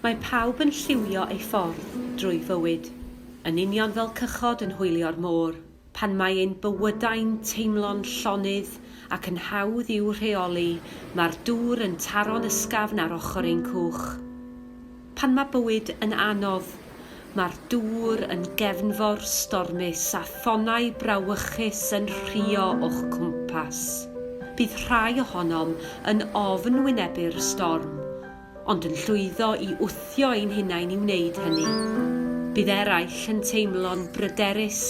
Mae pawb yn lliwio ei ffordd drwy fywyd, yn union fel cychod yn hwylio'r môr. Pan mae ein bywydau'n teimlo'n llonydd ac yn hawdd i'w rheoli, mae'r dŵr yn taro'n ysgafn ar ochr ein cwch. Pan mae bywyd yn anodd, mae'r dŵr yn gefnfor stormus a thonnau brawychus yn rhuo o'ch cwmpas. Bydd rhai ohonom yn ofn wynebu'r storm, ond yn llwyddo i wthio ein hunain i wneud hynny. Bydd eraill yn teimlo'n bryderus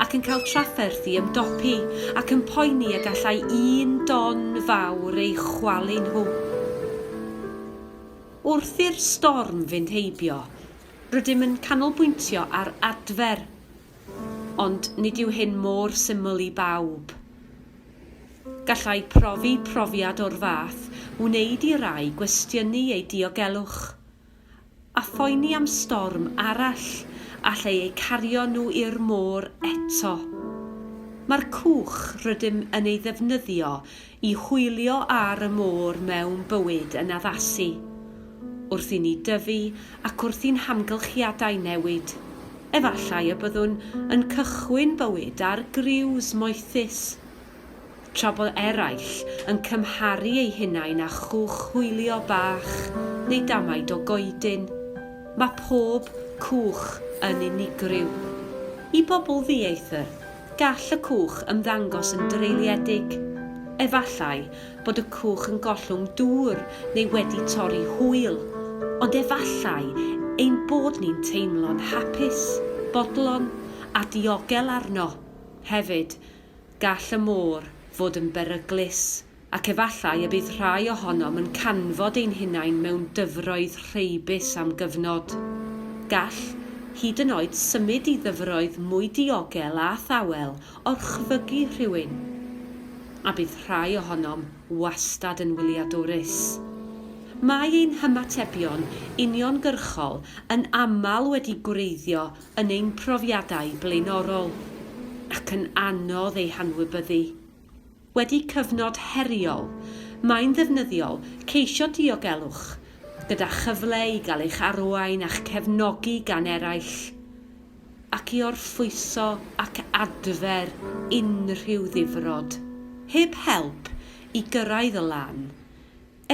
ac yn cael trafferth i ymdopi ac yn poeni y gallai un don fawr eu chwalu nhw. Wrth i'r storm fynd heibio, rydym yn canolbwyntio ar adfer, ond nid yw hyn mor syml i bawb. Gallai profi profiad o'r fath wneud i rai gwestiynu eu diogelwch, a phoeni am storm arall allai eu cario nhw i'r môr eto. Mae'r cwch rydym yn ei ddefnyddio I hwylio ar y môr mewn bywyd yn addasu, wrth i ni dyfu ac wrth i'n hamgylchiadau newid, efallai y byddwn yn cychwyn bywyd ar griws moethus, tra bod eraill yn cymharu eu hunain â chwch hwylio bach neu damaid o goedyn. Mae pob cwch yn unigryw. I bobl ddieithr, Gall y cwch ymddangos yn dreuliedig. Efallai bod y cwch yn gollwng dŵr neu wedi torri hwyl, ond efallai ein bod ni'n teimlo'n hapus, bodlon a diogel arno. Hefyd, gall y môr fod yn beryglus. ac efallai y bydd rhai ohonom yn canfod ein hunain mewn dyfroedd rheibus am gyfnod. Gall hyd yn oed symud i ddyfroedd mwy diogel a thawel orchfygu rhywun, a bydd rhai ohonom wastad yn wyliadwrus. Mae ein hymatebion uniongyrchol yn aml wedi gwreiddio yn ein profiadau blaenorol, ac yn anodd eu hanwybyddu. Wedi cyfnod heriol, mae'n ddefnyddiol ceisio diogelwch, gyda chyfle i gael eich arwain a'ch cefnogi gan eraill, ac i orffwyso ac adfer unrhyw ddifrod, heb help, i gyrraedd y lan.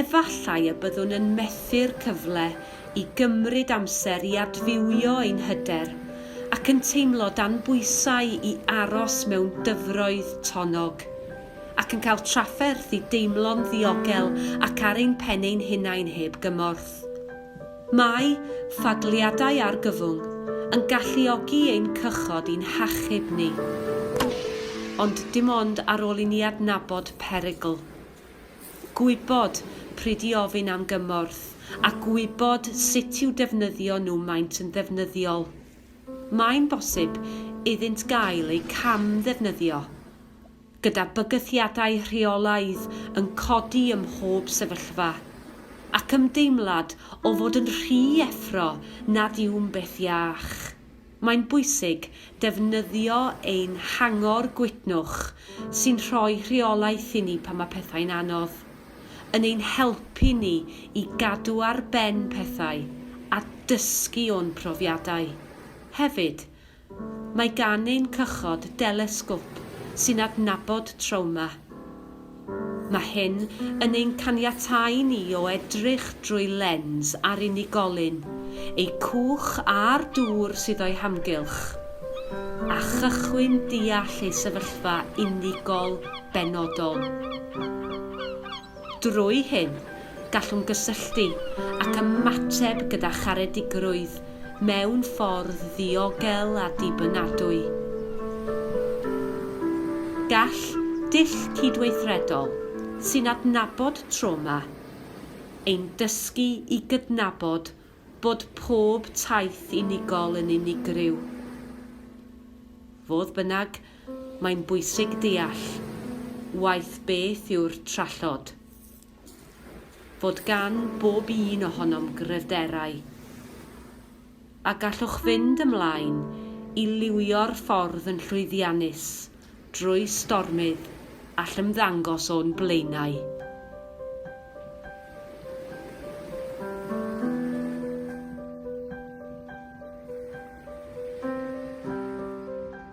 Efallai y byddwn yn methu'r cyfle i gymryd amser i adfywio ein hyder ac yn teimlo dan bwysau i aros mewn dyfroedd tonnog, ac yn cael trafferth i deimlo'n ddiogel ac ar ein pen ein hunain heb gymorth. Mae ffadliadau argyfwng yn galluogi ein cychod i'n hachub ni, ond dim ond ar ôl i ni adnabod perygl. Gwybod pryd i ofyn am gymorth a gwybod sut i'w defnyddio nhw maent yn ddefnyddiol. Mae'n bosib iddynt gael eu cam-ddefnyddio, gyda bygythiadau rheolaidd yn codi ym mhob sefyllfa, ac ymdeimlad o fod yn rhy effro nad yw'n beth iach. Mae'n bwysig defnyddio ein hangor gwytnwch sy'n rhoi rheolaeth i ni pan mae pethau'n anodd, yn ein helpu ni i gadw ar ben pethau a dysgu o'n profiadau. Hefyd, mae gan ein cychod delesgop sy'n adnabod trawma. Mae hyn yn ein caniatáu ni o edrych drwy lens ar unigolyn, eu cwch a'r dŵr sydd o'i hamgylch, a chychwyn deall eu sefyllfa unigol benodol. Drwy hyn, gallwn gysylltu ac ymateb gyda charedigrwydd mewn ffordd ddiogel a dibynadwy. Gall dull cydweithredol sy'n adnabod trawma ein dysgu i gydnabod bod pob taith unigol yn unigryw. Fodd bynnag, mae'n bwysig deall waeth beth yw'r trallod. fod gan bob un ohonom gryfderau, a gallwch fynd ymlaen i liwio'r ffordd yn llwyddiannus drwy stormydd all ymddangos o'n blaenau.